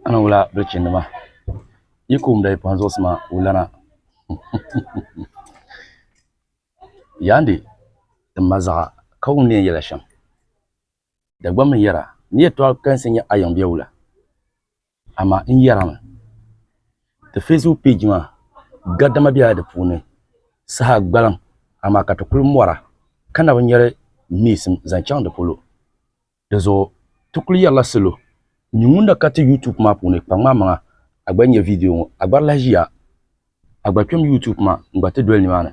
Ana wula bilichinnima yi ku wumda yi pɔhim zuɣusima wulana. Yandi ti ma zaɣa ka wum ni yɛn yɛla shɛm. Dagbam n yɛra ni yɛtɔɣa kalinsi nyɛ a yiŋ bee wula? Amaa n yɛrimi, ti Facebook peji maa gadama bela di puuni saha gbaliŋ amaa ka ti kuli mɔra ka na bi nyari neesim zaŋ chaŋ di polo. Dinzuɣu ti kuli yɛrila salo n nyɛ ŋun na ka ti YouTube maa puuni kpaŋ maa maŋa a gba nyɛ video ŋɔ a gbari lahi ʒiya a gba kpɛm YouTube maa n gba ti doli nimaani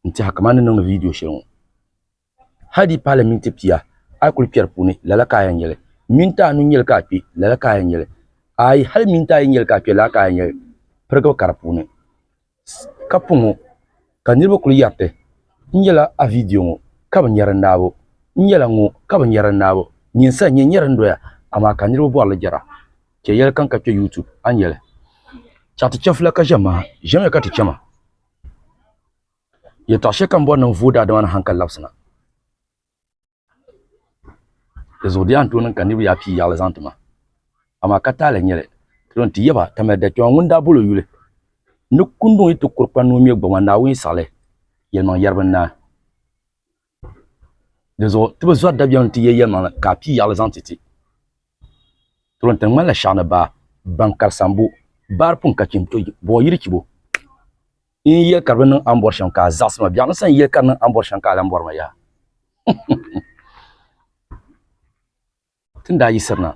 n tiɛha kamani ni niŋdi video shɛli ŋɔ hali di pahila minti pia a yi kuli kpɛri puuni lala ka a yɛn nyɛli minti anu nyɛli ka a kpɛ lala ka a yɛn nyɛli ayi hali minti ayi nyɛli ka a kpɛ lala ka a yɛn nyɛli pirigiri ka di puuni ka po ŋɔ ka niriba kuli yariti n nyɛla a viidiyo ŋɔ ka bi nyari n naabo n nyɛla ŋɔ ka bi nyari n naabo nyinsa n nyɛ n nyari n doya amaa ka niriba bɔri li jɛra chɛ yɛli kaŋ ka kpe youtube a ni yɛli chaŋ ti chɛfila ka ʒe maha ʒemiya ka ti chɛma yɛltɔɣa shɛli kam bɔri ni n vooi daadama ni haŋkali labisina. Di zuɣu di yɛn tooi niŋ ka niraba yaɣa pii yaɣali zaŋ ti ma amaa ka taali n nyɛli ti yɛn ti yɛba ka mali dachewa ŋun daa boli o yuli ni kunduŋ yi ti kuri kpani ni o ŋmɛ gbuɣuma Naawuni yi siɣili yɛlimaŋli yɛribi n naai dizuɣu ti bi zori dabiɛm n ti yɛ yɛlimaŋli ka a pii yaɣali zaŋ ti ti ti ni ŋmanila shɛhi ni baa ban kari sambu baari puŋ ka chim buɣi yiri chibo N yɛli ka di bi niŋ a ni bɔri shɛm ka a zaɣisi ma. Biɛɣuni sa n yɛli ka di niŋ a ni bɔri shɛm ka a lan bɔri ma yaha. Ti ni daa yiɣisiri na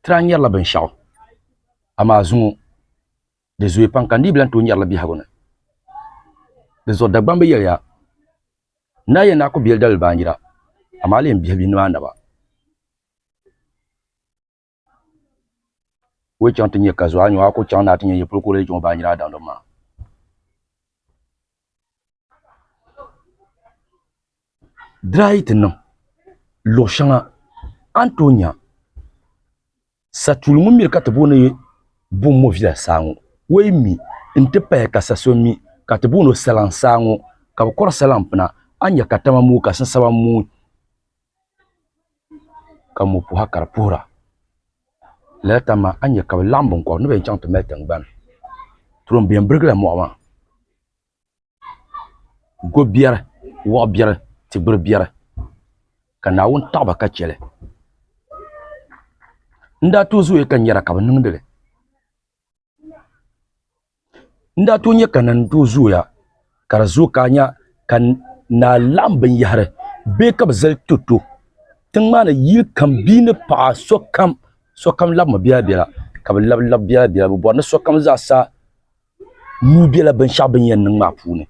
ti daa nyarila binshɛɣu, amaa zuŋɔ di zooi pam ka n dii bi lan tooi nyari li biɛhigu ni. Dinzuɣu Dagbamb bi yɛliya, N daa yɛn daa ku be li daliri baanjira, amaa a leei m biɛhibihi ni bɛ anaba. wo chaŋ ti nyɛ ka zuɣa nyɔ a ku chaŋ ni a ti nyɛ yi puli kuri yi chaŋ o baanjira a daŋdim maa. Dira yi ti niŋ luɣ shɛŋa a ni tooi nya satuuli ŋun miri ka ti booni Bommɔvila saa ŋɔ o yi mi n-ti pahi ka sa so mi ka ti booni o Salaŋ saa ŋɔ ka bɛ kɔri Salaŋ pina a ni nya ka tama mooi ka sinsaba mooi. ka mo puha ka di puhira lala tani maa a ni nyɛ ka bi laɣam binkobiri ni bi yɛn chɛŋ ti mali tingbani turon biɛni birigila moɣa maa ko biɛri woɣi biɛri ti gbiri biɛri ka naawuni taɣaba ka chɛli n daa too zooya ka n nyɛra ka bi niŋdili N daa tooi nyɛ ka na ni tooi zooya ka di zooi ka a nya ka naa laɣim binyɛhiri bee ka bɛ zali to to tiŋ maa ni yili kam bia ni paɣa sokam sokam labimi biɛla biɛla ka bɛ labi labi biɛla biɛla bɛ bɔri ni sokam zaa sa nuu bela binshɛɣu bɛ ni yɛn niŋ maa puuni.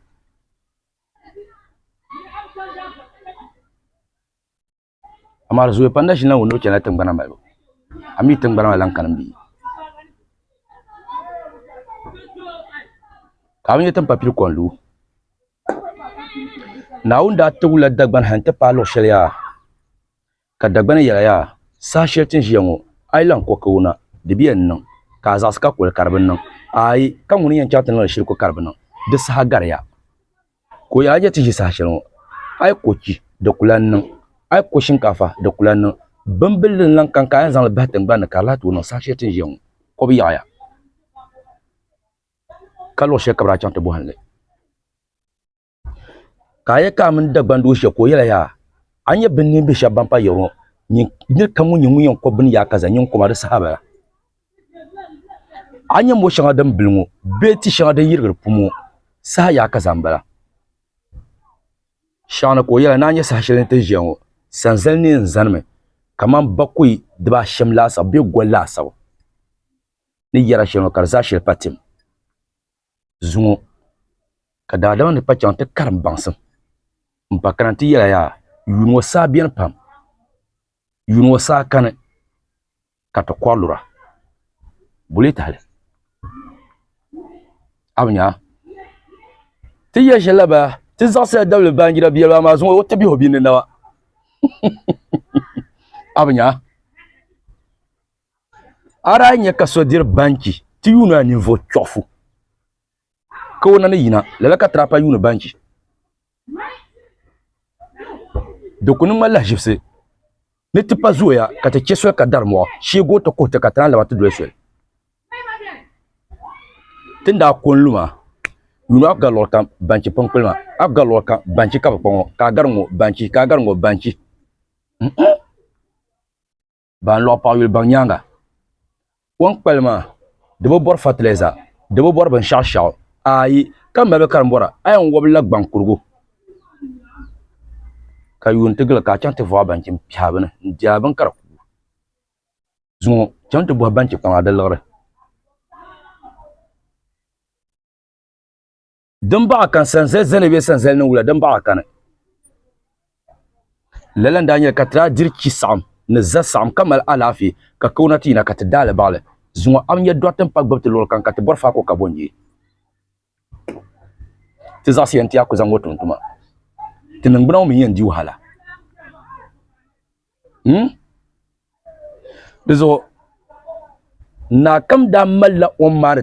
Amaa di zooya pam na ʒini la ŋun ni o chana tingbana malibu a mi tingbana maa lahi kani m bee ka a mi nya tiŋ papili kɔŋ lu Naawuni daa tibigi la Dagbani ha nti paai luɣ shɛli yaa ka Dagbani yɛla yaa saha shɛli ti ni ʒiya ŋɔ a yi lahi kɔh ka wuna di bɛ yɛn niŋ ka a zaɣisi ka kuli ka di bi niŋ aai ka ŋuni n yɛn chaŋ ti niŋ li shiri kɔ ka di bi niŋ di saha gariya. Ka o yɛli Hajati ʒi saha shɛli ŋɔ a yi ko chi di ku lahi niŋ a yi ko shinkaafa di ku lahi niŋ binbilli n lahi kaŋ ka a yɛn zaŋli bahi tingbani ni ka di lahi tooi niŋ saha shɛli ti ni ʒiya ŋɔ ko bi yaɣiya ka luɣ shɛli ka bi daa chaŋ ti bɔhim li ka a yɛli ka a mini Dagbaŋ doo ʒiya ka o yɛli a yaa a ni nyɛ binniimbihi shɛba ban pa yiɣiri ŋɔ nyin nir kam ŋun nyɛ ŋun yɛn ko bini yaakaza nyin ko ma di saha bala. A nyɛ mo shɛŋa din bili ŋɔ bee ti shɛŋa din yirigiri pum ŋɔ saha yaa ka zaŋ bala? Shɛŋa ni ka o yɛli, Ni a nya saha shɛli ni ti ni ʒiya ŋɔ, sanzali neen n-zanimi kamani bakɔi dibaashɛm laasabu bee goli laasabu ni yɛra shɛli ŋɔ ka di zaa shili pa tim zuŋɔ, ka daadama ni kpa chaŋ ti karim baŋsim m-pa kana nti yɛli a yaa, Yuuni ŋɔ saa beni pam, yuuni ŋɔ saa kani. ka ti kɔri lura bulee tahili a bi nyaa ti yɛ shɛli la baa ti zaɣisila dabili baanjira biɛli baa maa zuŋɔ o ti bihi o bia ni naba a bi nyaa a daa nyɛ ka so diri banchi ti yuuni a ninvuɣu chɔɣifu ka o na ni yina, lala ka Trapa yuuni banchi. Di ku niŋ ma lahiʒibisi ni tipa zooya ka ti chɛ soli ka dari mɔɣu sheeg o ti kuhi ti ka ti lan labi ti doli soli. Ti ni daa ko n-lu maa, yuuni a ku gari luɣili kam banchi piŋkpili maa. A ku gari luɣili kam banchi ka bi kpa ŋɔ, ka a gari ŋɔ banchi, ka a gari ŋɔ banchi. ban lɔɣi paɣ yuli baŋ nyaaŋa. Kom kpali maa di bi bɔri fatilɛza, di bi bɔri binshɛɣu shɛɣu ayi ka mali bɛ karimbɔra. A yɛn wɔbi la gbaŋ kurigu ka yuuni ti gili ka a chaŋ ti vɔɣi banchi m-piɛhi bini n-di a bini ka di kuui. Zuŋɔ chaŋ ti bɔhi banchi kpaŋa di liɣiri. din baɣa kan sanzali zani bɛ sanzali ni wula din baɣa kani lala n daa nyɛli ka ti daa diri chi saɣam ni za saɣam ka mali alaafee ka kauna ti yina ka ti daali baɣali zuŋɔ am nyɛ dɔɣite n pa gbubi ti luɣuli kam ka ti bɔri faako ka bɔnjee ti zaɣisi yɛn ti yaa ku zaŋ ŋɔ tum tuma ti ningbuna ŋɔ mi yɛn di wahala hmm? di zuɣu naa kam daa malila o maani